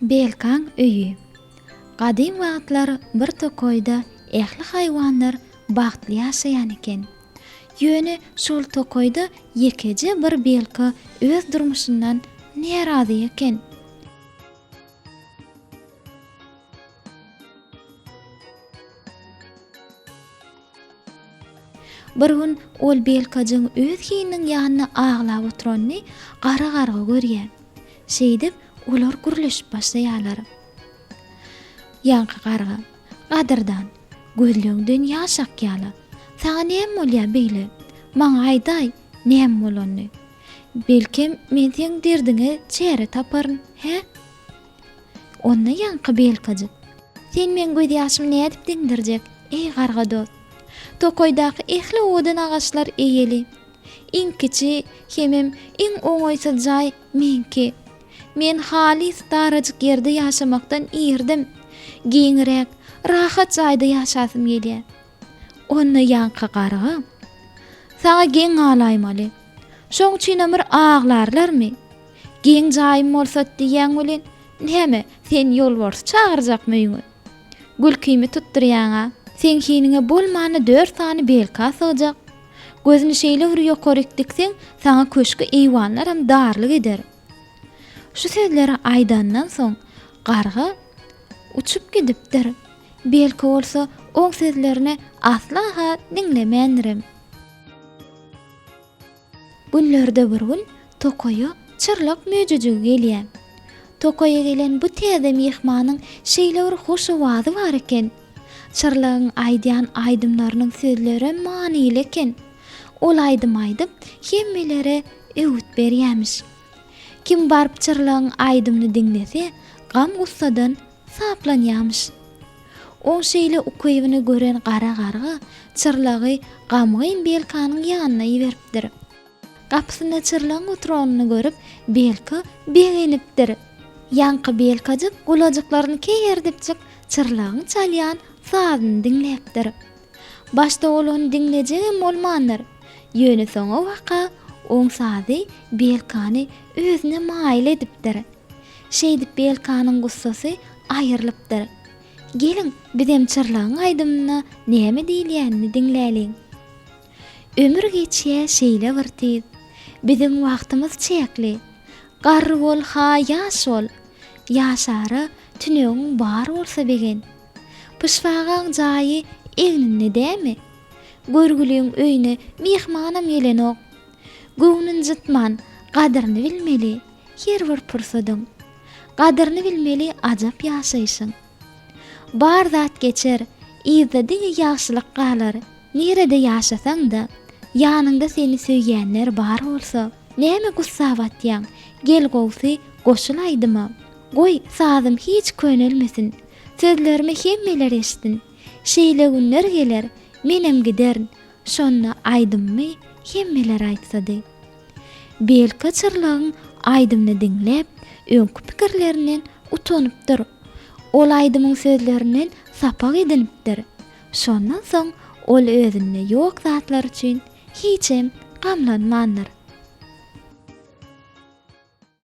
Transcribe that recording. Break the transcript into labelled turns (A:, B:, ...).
A: Belkaň öýi. Gadym wagtlar bir tokaýda ähli haýwanlar bagtly ýaşaýan eken. Ýöne şol tokaýda ýekeje bir belka öz durmuşyndan närazy eken. Bir gün ol Belkajygyň öz hininiň ýanynda aglap oturanyny gara garga görýär. Şeýdip, olar gürleşip başlaýarlar. Ýaňky garga. Gadyrdan, gözleňden ýaş akýar-la. Saňa näme bolýar beýle? Maňa aýdaý, näme bolanyny. Belkem, men seň derdiňe çäre taparyn, hä? Onda ýaňky belkajyk. Sen meň gözýaşymy nädip diňdirjek, eý, garga dost? Tokaýdaky ähli owadan agaçlar eýeli. Iň kiçi hemem iň oňaýsyz jaý meňki. Men halys darajyk ýerde ýaşamakdan irdim. Giňräk, rahat jaýda ýaşasym gelýär. Onda ýaňky garga, Saňa geň galaýmaly. Şoň üçinem bir aglarlarmy? Geň jaýym bolsa diýýäň welin, näme, sen ýolbarsy çagyrjakmy öýüňe? Gülkimi tutdurýaň-a. Seň hiniňe bolmanda dört sany belka sygjak. Gözüni şeýle bir ýokaryk dikseň, saňa köşki eýwanlaram darlyk eder. Şu sözleri aýdandan soň, garga uçup gidipdir. Belki bolsa, oň sözlerini asla-ha diňlemändirem. Günlerde bir gün tokaýa çyrlak möjejigi gelýär. Tokaýa gelen bu täze myhmanyň şeýle bir hoş owazy bar eken. Çyrlygyň aýdýan aýdymlarynyň sözlerem manyly eken. Ol aýdym aýdyp, hemmelere öwüt berýämiş. Kim baryp Çyrlygyň aýdymyny diňlese, gam-gussadan saplanýamyş. Oň şeýle ukybyny gören gara garga Çyrlygy gamgyn Belkanyň ýanyna iberipdir. Gapysynda çyrlygyň oturanyny görüp, Belka begenipdir. Ýaňky Belkajyk gulajyklaryny keýerdipjik çyrlygyň çalýan sazyny diňläpdir. Başda ol ony diňlejegem bolmandyr. Ýöne soňa waka oň sazy Belkany özüne maýyl edipdir. Şeýdip Belkanyň gussasy aýrylypdyr. Geliň, bizem çyrlygyň aýdymyna näme diýilýänini diňläliň. Ömür geçýä şeýle bir tiz. Biziň wagtymyz çäkli. Garry bol-ha ýaş bol. Ýaşara tünegiň bar bolsa begen. Pyşbagaň jaýy egninde dämi? Görgüliň öýüne myhmanam gelenok. Göwnün jytman, gadyryny bilmeli her bir pursadyň. Gadyryny bilmeli ajap ýaşaýşyň. Bar zat geçer, yzda diňe ýagşylyk galar. Nirede ýaşasaň-da, ýanyňda seni söýýänler bar bolsa, näme gussa batýaň? Gel gowsy, goşul aýdyma. Goý, sazym hiç könelmesin. Sözlerimi hemmeler eşitsin. Şeýle günler geler, menem giderin. Şonda aýdymymy hemmeler aýtsady. Belki Çyrlygyň aýdymyny diňläp, öňki pikirlerinden utanypdyr. Ol aýdymyň sözlerinden sapak edinipdir. Şondan soň ol özünde ýok zatlar üçin hiçem gamlanmandyr.